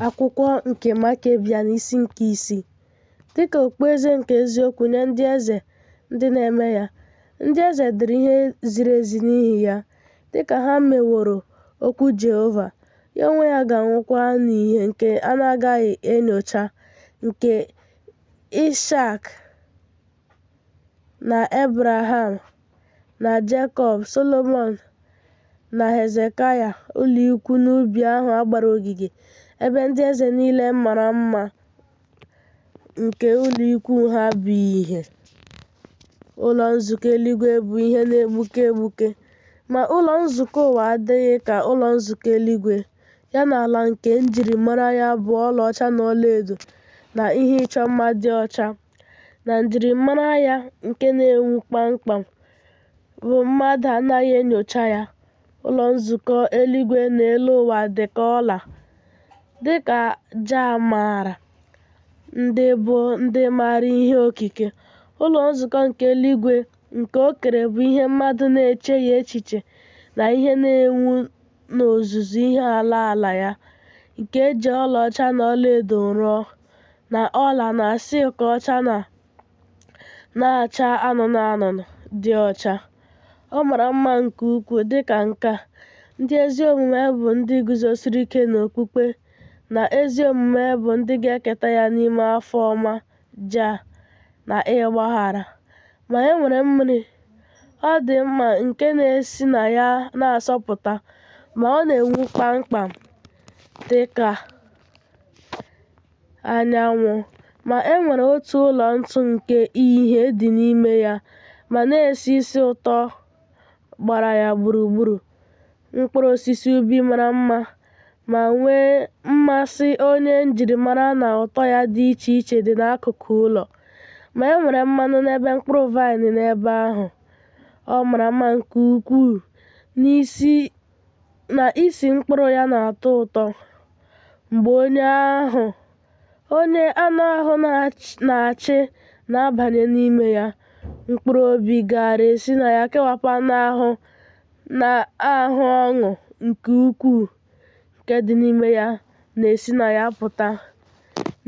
Akwụkwọ nke Makebia n'isi nke isii. Dịka okpueze nke eziokwu nye ndị eze ndị na-eme ya, ndị eze dịrị ihe ziri ezi n'ihi ya, dịka ha meworo okwu Jehova, ya onwe ya ga-anwụkwa n'ihe nke a na-agaghị enyocha nke Ishak. na Ebraham na Jekọb, Solomọn na Hezekaya, ụlọikwu n'ubi ahụ a gbara ogige, ebe ndị eze niile mara mma nke ụlọikwu ha bụ ihe. Ụlọ nzukọ eluigwe bụ ihe na-egbuke egbuke, ma ụlọ nzukọ ụwa adịghị ka ụlọ nzukọ eluigwe, ya na ala nke njirimara ya bụ ọlaọcha na ọlaedo na ihe ịchọ mma dị ọcha. na njirimara ya nke na-enwu kpamkpam bụ mmadụ anaghị enyocha ya, Ụlọ Nzukọ Eluigwe na Elu Ụwa dị ka ọla, dị ka Jah maara ndị bụ ndị maara ihe okike. Ụlọ Nzukọ nke Eluigwe nke o kere bụ ihe mmadụ na-echeghị echiche na ihe na-enwu n'ozuzu ihe ala ala ya, nke e ji ọlaọcha na ọlaedo rụọ, na ọla na silk ọcha na na-acha anụnụ anụnụ dị ọcha. Ọ mara mma nke ukwuu dị ka nke a. Ndị ezi omume bụ ndị guzosiri ike n'okpukpe, na ezi omume bụ ndị ga-eketa ya n'ime afọ ọma. Jah na ịgbaghara. Ma e nwere mmiri ọdịmma nke na-esi na ya na-asọpụta, ma ọ na-enwu kpamkpam dị ka anyanwụ. Ma e nwere otu ụlọ ntụ nke ihe dị n'ime ya ma na-esi isi ụtọ gbara ya gburugburu. mkpụrụ osisi ubi mara mma ma nwee mmasị onye njirimara na ụtọ ya dị iche iche dị n'akụkụ ụlọ. Ma e nwere mmanụ na ebe mkpụrụ vaịn n'ebe ahụ. Ọ mara mma nke ukwuu n'isi na isi mkpụrụ ya na-atọ ụtọ. Mgbe onye ahụ onye anụ ahụ na-achị na-abanye n'ime ya, mkpụrụ obi gaara esi na ya kewapụ anụ ahụ na-ahụ ọṅụ nke ukwuu nke dị n'ime ya na-esi na ya pụta.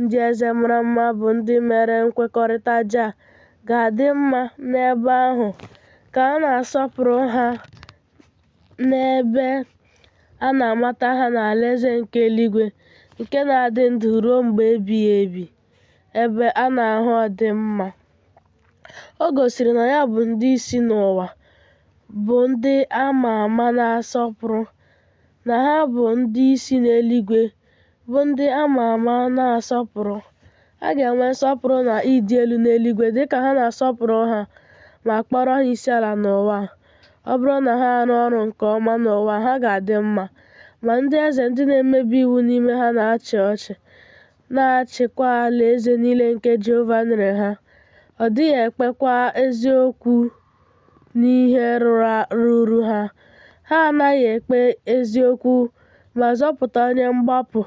Ndị eze mara mma bụ ndị mere nkwekọrịta Jah ga-adị mma n'ebe ahụ ka a na-asọpụrụ ha n'ebe a na-amata ha n'Alaeze nke eluigwe nke na-adị ndụ ruo mgbe ebighị ebi. ebe a na-ahụ ọdịmma. O gosiri na ya bụ ndị isi n'ụwa bụ ndị a ma ama na-asọpụrụ, na ha bụ ndị isi n'eluigwe bụ ndị a ma ama na-asọpụrụ. A ga-enwe nsọpụrụ na ịdị elu n'eluigwe dị ka ha na-asọpụrụ ha ma kpọrọ ha isi ala n'ụwa. Ọ bụrụ na ha arụ ọrụ nke ọma n'ụwa, ha ga-adị mma, ma ndị eze ndị na-emebi iwu n'ime ha na-achị ọchị. na-achịkwa alaeze niile nke Jehova nyere ha, ọ dịghị ekpekwa eziokwu n'ihe ruru ha. Ha anaghị ekpe eziokwu ma zọpụta onye mgbapụ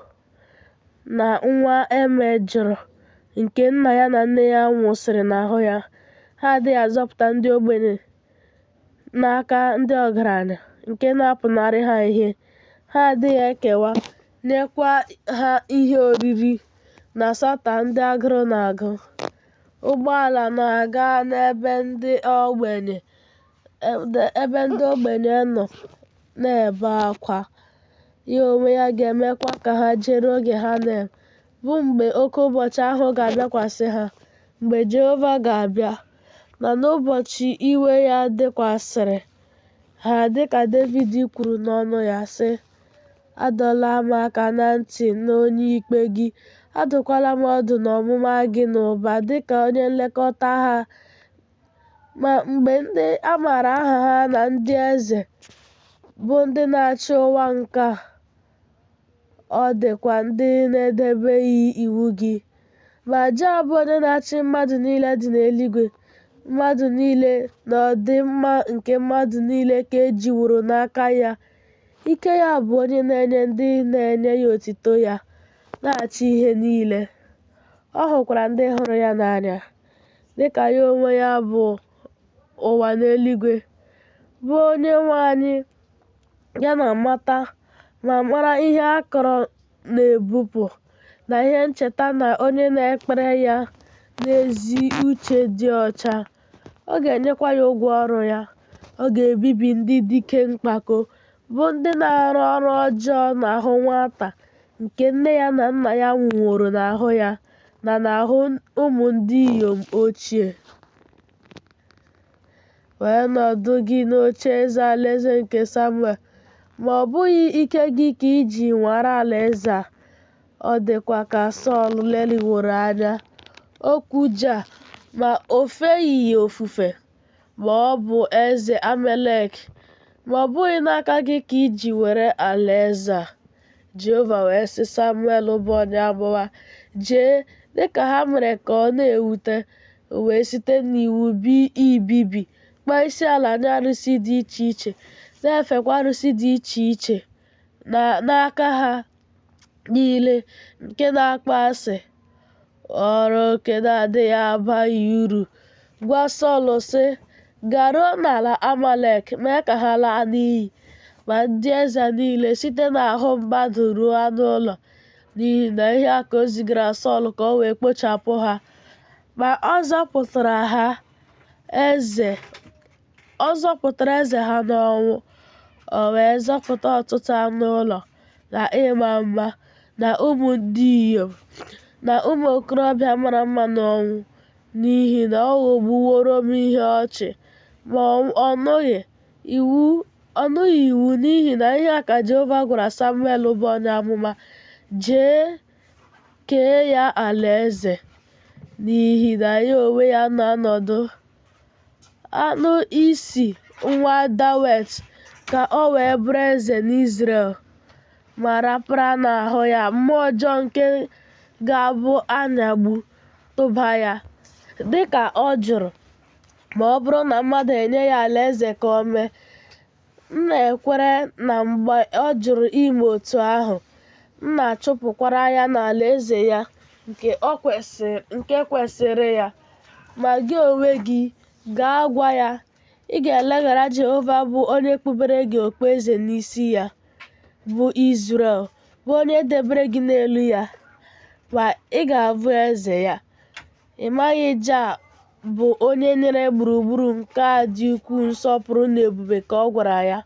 na nwa e mejọrọ nke nna ya na nne ya nwụsịrị n'ahụ ya. Ha adịghị azọpụta ndị ogbenye n'aka ndị ọgaranya nke na-apụnarị ha ihe. Ha adịghị ekewa nyekwa ha ihe oriri na-asọta ndị agụrụ na-agụ. Ụgbọala na-aga n'ebe ebe ndị ogbenye nọ na-ebe akwa. Ya onwe ya ga-emekwa ka ha jere oge ha na bụ mgbe oke ụbọchị ahụ ga-abịakwasị ha, mgbe Jehova ga-abịa, na n'ụbọchị iwe ya dịkwasịrị ha, dịka Devid kwuru n'ọnụ ya, sị, Adọla m aka na ntị n'onye ikpe gị, adụkwala m ọdụ n'ọmụma gị n'ụba dịka onye nlekọta ha. Ma mgbe ndị a maara aha ha na ndị eze bụ ndị na-achị ụwa nke a, ọ dịkwa ndị na-edebeghị iwu gị. Ma Jah bụ onye na-achị mmadụ niile dị n'eluigwe, mmadụ niile na ọdịmma nke mmadụ niile ka e jiworo n'aka ya. Ike ya bụ onye na-enye ndị na-enye ya otito ya na-achị ihe niile. Ọ hụkwara ndị hụrụ ya n'anya, dị ka ya onwe ya bụ ụwa na eluigwe, bụ onye nwe anyị ya na-amata ma mara ihe a kọrọ na-ebupụ na ihe ncheta na onye na-ekpere ya n'ezi uche dị ọcha. Ọ ga-enyekwa ya ụgwọ ọrụ ya. Ọ ga-ebibi ndị dike mkpako, bụ ndị na-arụ ọrụ ọjọọ n'ahụ nwata nke nne ya na nna ya nwụworo n'ahụ ya na n'ahụ ụmụ ndị inyom ochie. Wee nọdụ gị n'oche eze alaeze nke Samuel, ma ọ bụghị ike gị ka i ji nwara alaeze a, Ọ dịkwa ka Sọl leliworo anya okwu Jah, ma o feghị ya ofufe, ma ọ bụ eze Amalek, ma ọ bụghị n'aka gị ka i ji were alaeze a. Jehova wee sị Samuel bụ onye amụma, Jee, dị ka ha mere ka ọ na-ewute, wee site n'iwu bi ibibi, kpaa isi ala nye arụsị dị iche iche, na-efekwa arụsị dị iche iche n'aka ha niile nke na-akpọ asị ọrụ nke na-adịghị abaghị uru gwa Sọl sị garuo n'ala Amalek mee ka ha laa n'iyi ma ndị eze niile site n'ahụ mmadụ ruo anụ ụlọ n'ihi na ihe a ka o zigara Sọl ka o wee kpochapụ ha ma ọ zọpụtara ha eze Ọ zọpụtara eze ha n'ọnwụ, o wee zọpụta ọtụtụ anụ ụlọ na ịma mma na ụmụ ndị inyom na ụmụ okorobịa mara mma n'ọnwụ n'ihi na ọ ghọgbuworo m ihe ọchị. Ma ọ nụghị iwu n'ihi na ihe a ka Jehova gwara Samuel bụ onye amụma, Jee kee ya alaeze n'ihi na ya onwe ya na-anọdụ anụ isi nwa Dawet ka o wee bụrụ eze n'Izrel, ma rapara n'ahụ ya mmụọ ọjọọ nke ga-abụ anyagbu tụba ya, dị ka ọ jụrụ, ma ọ bụrụ na mmadụ enye ya alaeze ka o mee, M na-ekwere na mgbe ọ jụrụ ime otu ahụ, m na-achụpụkwara ya n'alaeze ya nke kwesịrị ya. Ma gị onwe gị, gaa gwa ya, ị ga-eleghara Jehova bụ onye kpubere gị okpueze n'isi ya, bụ Izrel, bụ onye debere gị n'elu ya, ma ị ga-abụ eze ya. Ị maghị Jah bụ onye nyere gburugburu nke a dị ukwuu nsọpụrụ na ebube ka ọ gwara ya.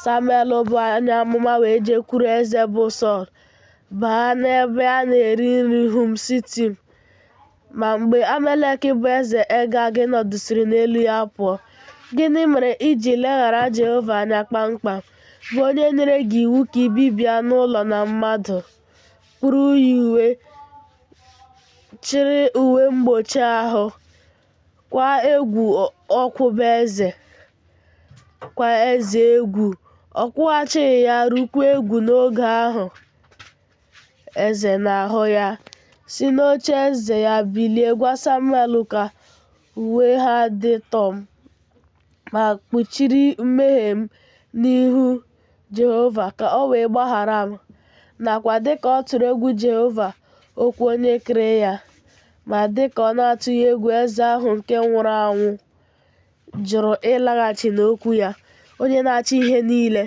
Samuel bụ onye amụma wee jekwuru eze bụ Sọl, baa n'ebe a na-eri nri Hum Sitim. Ma mgbe Amalek bụ eze Agag nọdụsịrị n'elu ya pụọ, gịnị mere i ji leghara Jehova anya kpamkpam, bụ onye nyere gị iwu ka i bibie anụ ụlọ na mmadụ, kpuru ya uwe, chịrị uwe mgbochi ahụ kwa egwu ọkwụba eze kwa eze egwu ọ kwụghachighị ya rukwa egwu n'oge ahụ eze na-ahụ ya si n'oche eze ya bilie gwa samuel ka uwe ha dị tọm ma kpuchiri mmehie m n'ihu Jehova ka o wee gbaghara m, nakwa dị ka ọ tụrụ egwu Jehova okwu onye kere ya, ma dị ka ọ na-atụghị egwu eze ahụ nke nwụrụ anwụ jụrụ ịlaghachi n'okwu ya, onye na-achị ihe niile.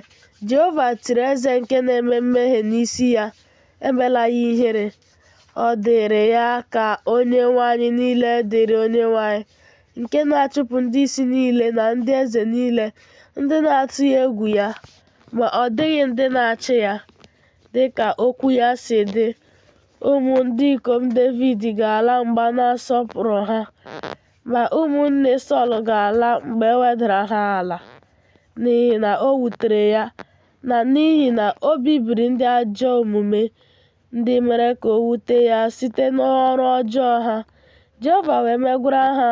Jehova tiri eze nke na-eme mmehie n'isi ya, emela ya ihere. Ọ dịrị ya ka Onyenwe anyị niile dịrị Onyenwe anyị nke na-achụpụ ndị isi niile na ndị eze niile ndị na-atụghị egwu ya, ma ọ dịghị ndị na-achị ya. Dị ka okwu ya si dị, ụmụ ndị ikom Devid ga-ala mgbe a na-asọpụrụ ha, ma ụmụnne Sọl ga-ala mgbe e wedara ha ala, n'ihi na o wutere ya na n'ihi na o bibiri ndị ajọ omume ndị mere ka o wute ya site n'ọrụ ọjọọ ha. Jehova wee megwara ha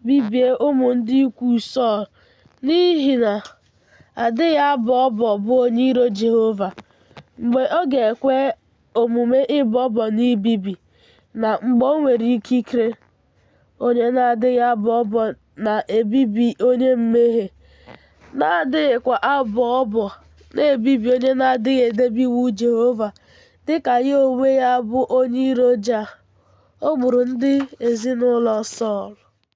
bibie ụmụ ndị ikwu Sọl n'ihi na adịghị abọ ọbọ bụ onye iro Jehova. Mgbe ọ ga-ekwe omume ịbọ ọbọ na ibibi na mgbe o nwere ikikere. onye na-adịghị abọ ọbọ na-ebibi onye mmehie, na-adịghịkwa abọ ọbọ na-ebibi onye na-adịghị edebe iwu Jehova, dị ka ya onwe ya bụ onye iro Ja. O gburu ndị ezinụlọ Sọl.